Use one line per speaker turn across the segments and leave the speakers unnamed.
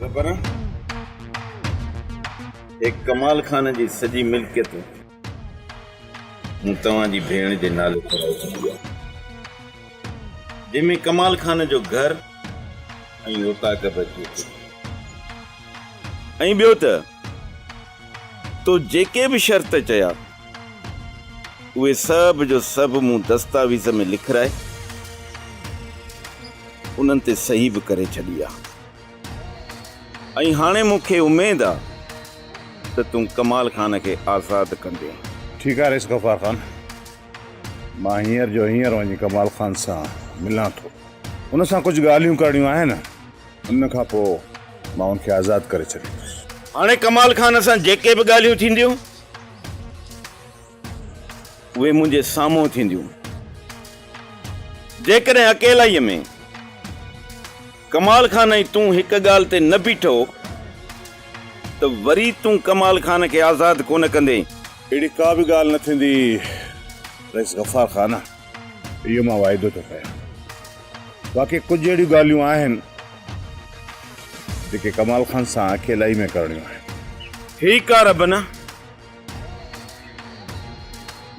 ربران هي ڪمال خان جي سڄي ملڪيت مون توهان جي ڀيڻ جي نالي ڪرائي ڇڏي آهي جنهن ۾ ڪمال خان جو گهر ۽ اوطاق به اچي ٿو ۽ ٻيو ته تو جيڪي به شرط چيا اهي سڀ جو سڀ مون دستاويز ۾ لکرائي انهن تي صحيح به ڪري ڇڏي آهي ۽ هاڻي مون کي اميد آ ته تون ڪمال خان کي آزاد ڪندين. ٺيڪ آ رئيس
غفار خان. مان هينئر جو هينئر وڃي ڪمال خان سان ملان ٿو. ان سان ڪجهه ڳالهيون ڪرڻيون آهن. ان کان پوء مان هن کي آزاد ڪري ڇڏيندس. هاڻي ڪمال خان
سان جيڪي به ڳالهيون ٿينديون اهي منهنجي سامهون ٿينديون. جيڪڏهن اڪيلائيء ۾. ڪمال خان ۽ تون هڪ ڳالهه تي نه بيٺو ته وري تون ڪمال خان کي آزاد ڪونه ڪندين. اهڙي ڪا به
ڳالهه نه ٿيندي رئيس غفار خان، اهو مان واعدو ٿو ڪريان. باقي ڪجهه اهڙيون ڳالهيون آهن جيڪي ڪمال خان سان اڪيلائي ۾ ڪرڻيون آهن. هي ڪا رب نه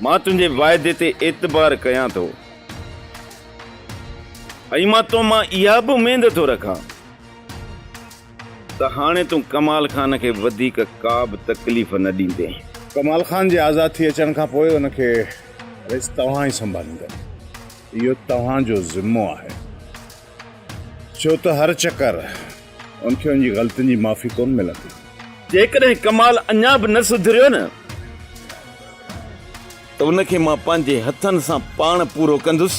مان تنهنجي واعدي تي اعتبار ڪيان ٿو ۽ مان تو مان اها به اميد ٿو رکان ته هاڻي تون ڪمال خان کي وڌيڪ ڪا به تڪليف نه ڏيندين. ڪمال خان جي
آزاد ٿي اچڻ کان پوء ان کي رئيس توهان ئي سنڀاليندو. اهو توهان جو ذمو آهي. ڇو ته هر چڪر ان کي ان جي غلطين جي معافي ڪونه ملندي. جيڪڏهن
ڪمال اڃا به نه سڌريو نه ته ان کي مان پنهنجي هٿن سان پاڻ پورو ڪندس.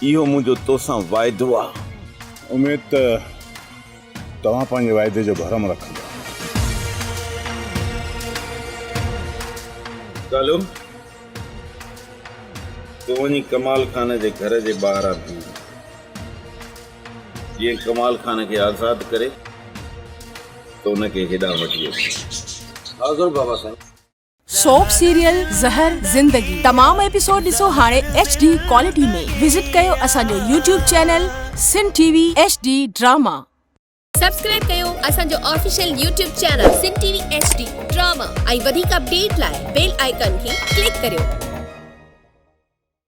اهو منهنجو توسان واعدو آهي. اميد ته
توهان پنهنجي واعدي جو ڀرم رکندا.
ڪالو تون وڃي ڪمال خان جي گهر جي ٻاهران بيهه جيئن ڪمال خان کي آزاد ڪري ته ان کي هيڏانهن وٺي اچ. حاضر بابا سائين. سوپ
سيريل زهر زندگي تمام ايپيسوڊ ڏسو هاڻي ايڇ ڊي ڪوالٽي ۾ وزٽ ڪيو اسان جو YouTube channel Sindh T V H D drama. Subscribe
ڪيو اسان جو official YouTube channel Sindh T V H D drama ۽ وڌيڪ اپڊيٽ لاء بيل آئيڪان کي ڪلڪ ڪريو.